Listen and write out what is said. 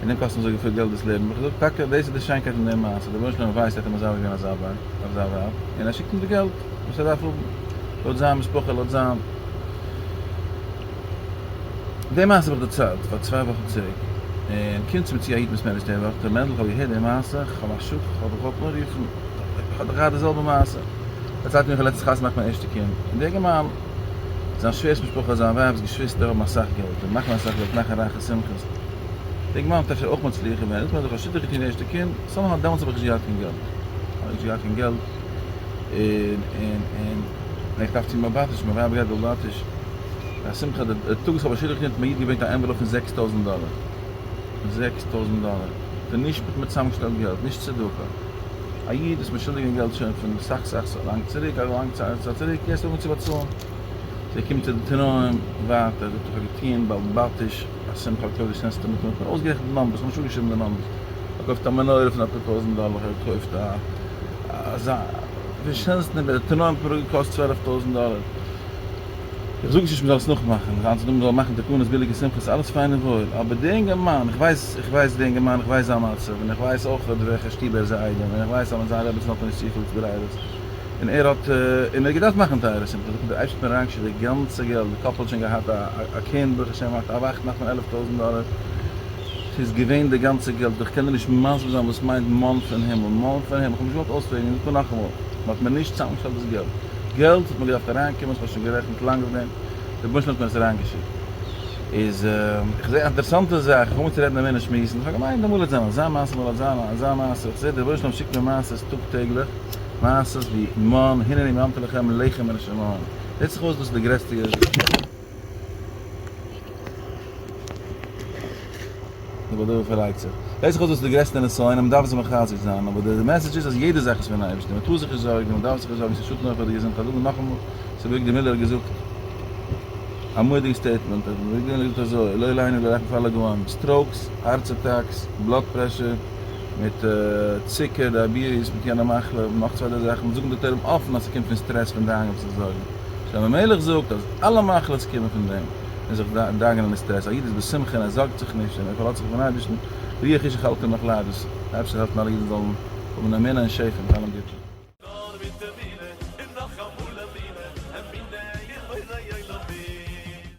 און אים קאסט אזוי געפיל געלט דאס לעבן, האב איך געזאגט, טאקע דאס איז די שיינקייט אין די מעשה, דער אויבערשטער ווען ער ווייסט ער האט אים מזכה געווען אזא ווייב, אזא ווייב, און ער שיקט אים די געלט וואס ער דארף האבן, לויט זיין משפחה, לויט זיין. די מעשה האב איך דערציילט פאר צוויי וואכן צוריק, און קומט צו מיר צו א היתמות מער נישט די וואך, ר' מענדל איך האב געהערט די מעשה, איך האב א שכח איך זאל דיך וואלט אנרופן, איך האב דאך געהאט די זעלבע מעשה, ער האט געציילט מיר איך האב לעצטענס חתונה געמאכט מיין ערשטע קינד, און די אינגערמאן. זיין שווער'ס משפחה, זיין ווייב'ס געשוויסטער האבן אסאך געלט און מאכן אסאך געלט מאכן רייכע שמחות, די גמרא האט אפשר אויך מצליח געווען, און איך האב זיך א שידוך געטון די ערשטע קינד, סאמהאו דעמאלטס האב איך נישט געהאט קיין געלט, כ'האב נישט געהאט קיין געלט, און און און און איך דארף צו מבטיש, מיין ווייב גייט בבטיש, די שמחה, די די טאג וואס איך האב א שידוך געטון האט מיר א איד געברענגט א ענוועלאפ פון זעקס טויזנט דאלער, זעקס טויזנט דאלער, איך בין נישט מיט מיט צאמגעשטעלט געלט, נישט צדקה. א איד וואס מ'איז שולדיג אים געלט שוין פון סאך סאך לאנג צוריק, א לאנג צייט צוריק, יעצט אנגעהויבן צו באצאלן, זיי קומט ער די תנאים ווייטער, זאגט איך האב געטוען בעל באטיש א שמחת קודש נענסטו מיט מיר, כ'האב אויסגערעכנט די נאמבערס, ממש אפגעשריבן די נאמבערס, ער קויפט א מנורה פון אפאר טויזנט דאלער, ער קויפט א אזא, ווי שנעלסטן, די תנאים האבן פאראויס געקאסט צוועלף טויזנט דאלער. איך זאג נישט נישט מ'זאל עס נאכמאכן, זיין צו דא מ'זאל מאכן תקנות ביליגע שמחות אלעס פיין און וואויל, אבער די אינגערמאן, איך ווייס, איך ווייס די אינגערמאן, איך ווייס זיין מצב, און איך ווייס אויך אויף וועלכע שטוב ער איז א איידעם, און איך ווייס אז מיט זיין רעביצן האט ער נישט צופיל התגוררות, און ער האט, און ער האט געדארפט מאכן טייערע שמחות, דאך האט דער אייבשטער אריינגעשיקט די גאנצע געלט, די קאפל האט שוין געהאט א קינד ברוך השם א וואכטן נאך פון עלף טויזנט דאלער, ס'איז געווען די גאנצע געלט, איך קען דיר נישט מסביר זיין וואס מיינט מאן פון הימל, מאן פון הימל, איך האב נישט געוואלט אויספרעגן, איך זאג נאכאמאל, מ'האט מיר נישט צוזאמגעשטעלט דאס געלט. געלט האט מען געדארפט אריינקומען, איך האב שוין גערעכנט לאנג אויף דעם, דער בענטשן האט מיר עס אריינגעשיקט, איז איך זעה א אינטערעסאנטע זאך, איך האב אנגעהויבן צו רעדן און מענער שמועסן, איך האב געמיינט דעמאלט וועט זיין אזא מעשה מאל אזא מאל אזא מעשה, איך זעה דער בענטשן שיקט מיר מעשה'ס טאג טעגליך, מעשה'ס ווי מן הנה אני מאמתו לכם לחם מן השמים, זעט זיך אויס דאס איז די גרעסטע יוז. די באדייט פארלייגט זיך. זעט זיך אויס דאס איז די גרעסטע נסיון און מען דארף זיך מחזק זיין, אבער די מעסעדזש איז אז יעדע זאך איז פון אייבערשטען, מען טאר זיך נישט זארגן, מען דארף זיך נישט זארגן, ס'איז שאטן אויך פאר די געזונט, כ'האב געזאגט נאכאמאל, ס'איז וועריקלי מיללער האט געזאגט א מודי'ג סטעיטמענט, ער האט וועריקלי נאר געזאגט אזוי, לא עלינו אלא רחמתו על הגאון, סטראוקס, הארץ אטאקס, בלאד פרעשור, מיט צוקער, דייעביעטיס, מיט יענע מחלה, נאך צוויי דריי זאכן, זאגן דאקטוירים אפן אז ס'קומט פון סטרעס, פון דאנגען, פון זיך זארגן. שלמה המלך זאגט אז אלע מחלות קומען פון דעם און זיך דאגה'נען און סטרעס, א איד איז בשמחה און ער זארגט זיך נישט און ער פארלאזט זיך אויפן אייבערשטן, רוח איש איך האלט אין מיך לייב, דאס אפשר העלפן אלע אידן זאלן האבן אמונה און שפע מיט אלעם גוטן. נאר מיט תפילה און נאכאמאל אמונה, אמונה אין בורא עולמים.